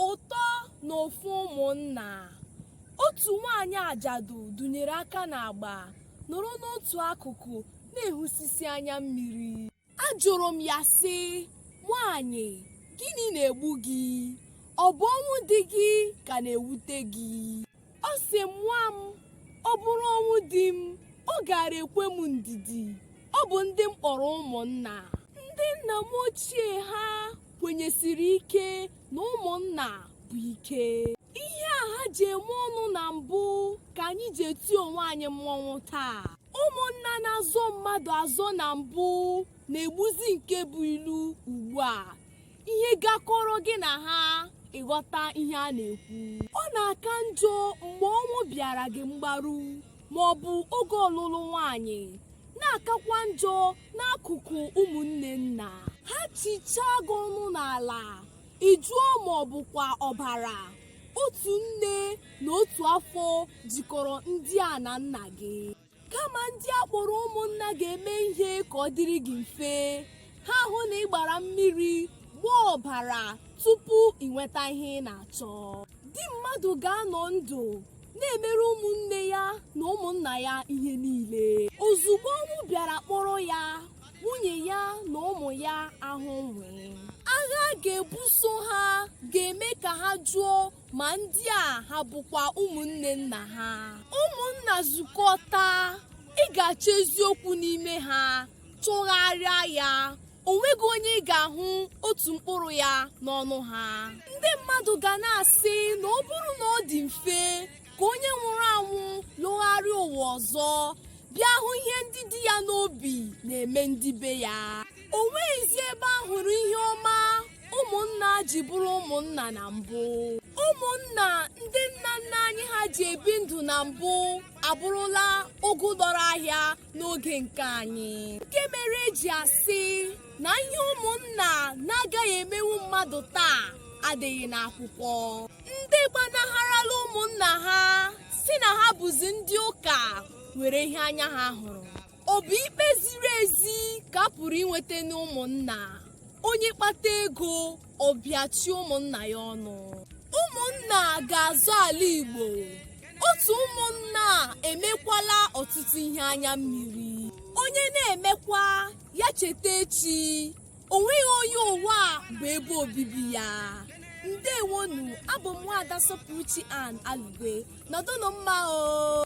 ụtọ na ụfụ ụmụnna otu nwaanyị ajadu dunyere aka n'agba nọrọ n'otu akụkụ na-ehusisi anya mmiri ajụrụ m ya sị nwaanyị gịnị na-egbu gị ọ bụ ọnwụ di gị ka na-ewute gị ọ sị m nwa m ọ bụrụ ọnwụ di m ọ gaara ekwe m ndidi ọ bụ ndị m kpọrọ ụmụnna ndị nna m ochie ha kwenyesiri ike na ụmụnna bụ ike ihe a ha ji eme ọnụ na mbụ ka anyị ji eti onwe anyị mmọnwụ taa ụmụnna na-azọ mmadụ azọ na mbụ na-egbuzi nke bụ ilu ugbu a ihe gakọrọ gị na ha ị ghọta ihe a na-ekwu ọ na-aka njọ mgbe ọnwụ bịara gị mgbaru ma ọ bụ oge ọlụlụ nwanyị na-akakwa njọ n'akụkụ ụmụnne nna ha chichaa gị ọnụ n'ala ị jụọ ma ọ bụkwa ọbara otu nne na otu afọ jikọrọ ndị a na nna gị kama ndị a kpọrọ ụmụnna ga-eme ihe ka ọ dịrị gị mfe ha ahụ na ị gbara mmiri gbaa ọbara tupu ị nweta ihe ị na-achọ di mmadụ ga-anọ ndụ na-emere ụmụnne ya na ụmụnna ya ihe niile ozugbo ọnwụ bịara kpọrọ ya nwunye ya na ụmụ ya ahụ nwii agha a ga-ebuso ha ga-eme ka ha jụọ ma ndị a ha bụkwa ụmụnne nna ha ụmụnna zukọta ị ga-achọ eziokwu n'ime ha chọgharịa ya o nweghị onye ị ga-ahụ otu mkpụrụ ya n'ọnụ ha ndị mmadụ ga na-asị na ọ bụrụ na ọ dị mfe ka onye nwụrụ anwụ lọgharịa ụwa ọzọ bịa hụ ihe ndị dị ya n'obi na-eme ndị be ya o nweghịzi ebe a hụrụ ihe ọma ụmụnna ji bụrụ ụmụnna na mbụ ụmụnna ndị nna nna anyị ha ji ebi ndụ na mbụ abụrụla ụgụ lọrọ ahịa n'oge nke anyị nke mere e ji asị na ihe ụmụnna na-agaghị emenwu mmadụ taa adịghị n'akwụkwọ ndị gbanagharala ụmụnna ha sị na ha bụzi ndị ụka nwere ihe anya ha hụrụ ọ bụ ikpe ziri ezi ka a pụrụ inweta n'ụmụnna onye kpata ego ọ pịachie ụmụnna ya ọnụ ụmụnna ga-azọ ala igbo otu ụmụnna emekwala ọtụtụ ihe anya mmiri onye na-emekwa ya cheta echi o nweghị onye ụwa a bụ ebe obibi ya ndewonụ abụ m nwaada sọpụrụchi an alugwe nọdụnụ mma o